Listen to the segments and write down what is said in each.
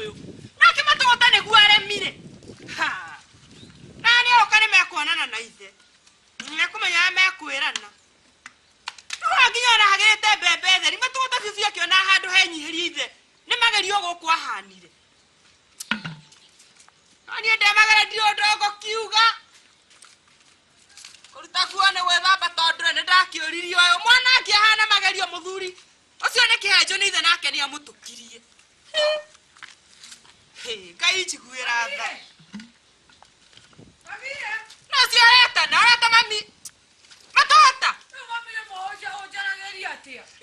ũyũ nake matũgũta nĩguo aremire ha na nĩ oka nĩ mekuonana na ithe mekũmenya arĩa mekwĩrana rĩu nginya ona hagĩrĩte mbembe theri matũgũta biũ biũ akĩona handũ henyihĩrie ithe nĩ magerio gũkũ ahanire no niĩ ndemagera ndirĩ ũndũ ngũkiuga kũruta kuo nĩ gwĩthamba tondũ nĩ ndakĩũririe ũyũ mwana akĩhana magerio mũthuri ũcio nĩ kĩhenjo nĩ ithe nake nĩ amũtũkirie ngai njiguĩra tha no cio areta na areta mami matota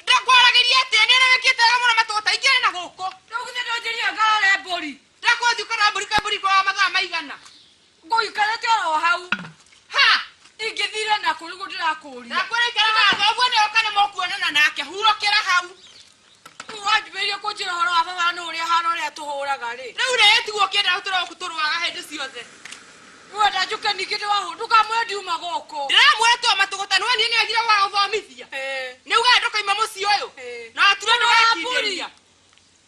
ndakwarageria atĩa nĩ aragĩkĩte wega mũno matota ingĩrĩ na gũkũ ndakũthi ũkara mbũri kwa mbũri kwa mathaa maigana ngũikarĩte oro hau ha ingĩthire naku nĩguo ndĩrakũria ndakwĩrĩkĩra haha ũguo nĩ oka nĩ mũkuonana nake hurũkĩra hau rĩu wanjumĩrie kũnjĩra ũhoro wa baba nĩ ũrĩa hana ũrĩa tũhũraga rĩ rĩu rĩ tiguo kĩndĩ hau tũroku tũrũaga hĩndĩ ciothe wenda njuke ningĩ ndĩwahũ ndũkamwĩre ndiuma gũkũ ndĩramwĩra tua matũgũta nĩ wonire nĩ agire gũgathomithia Ĩĩ, nĩ ugaga ndũkaima mũciĩ ũyũ ĩĩ. na watura nĩ wekindĩria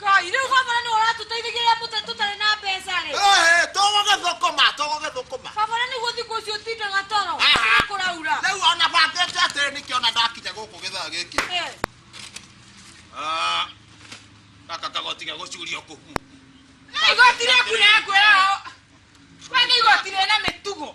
Ngai, rĩu baba nĩ ũratũteithagia rĩrĩa mũtarĩ tũtarĩ na mbeca rĩ Ehe, togoge thũkũma togoge thũkũma baba na nĩguo thikũ icio ũtindaga toro Aha. nĩ kũraura rĩu ona bangĩte atĩrĩ nĩkĩ ona ndakinya gũkũ gĩthaa gĩkĩ Eh, Ah, gaka kagoti ga gũcuria ũkũ na igoti rĩaku rĩakwĩra we nĩ igoti rĩna mĩtugo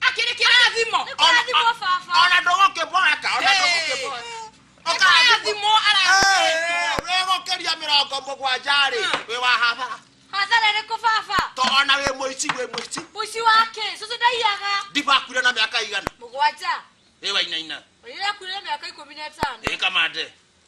akiri kĩrathimo Nĩ kũrathimwo baba. ona ndũgũkĩboeka ona Hey. ndũgũkĩboeka Kĩrathimo arathimĩtwo. wĩgũkĩria mĩrongo mũgwanja rĩ Ah. wĩ wa hathara hathara ĩrĩkũ baba to ona wĩ mũici wĩ mũici mũici wake cũcũ ndaiyaga ndibakuire na mĩaka igana mũgwanja ĩwainaina ũrĩrakuire mĩaka ikũmi na ĩtano ĩkamande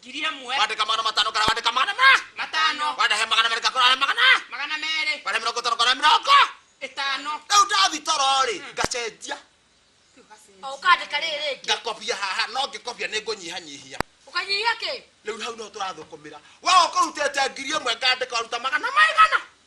ngiri ĩmwe wandĩka magana matano kana wandĩka magana ma matano wandahe magana merĩ kakora arĩa magana magana merĩ wandĩha mĩrongo ĩtano kana mĩrongo ĩtano rĩu ndathi toro rĩ ngacenjia o ũkandĩka rĩrĩ rĩngĩ ngakobia haha no ngĩkobia nĩ ngũnyihanyihia ũkanyihia kĩ rĩu hau no tũrathũkũmĩra we ũkũrutĩte ngiri ĩmwe ngandĩka waruta magana maigana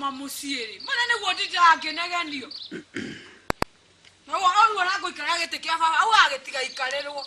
ma muciiri mana ni guo ndindaga nginegenio na guo oruo na nguikara giti kia baba au agitiga ikarirwo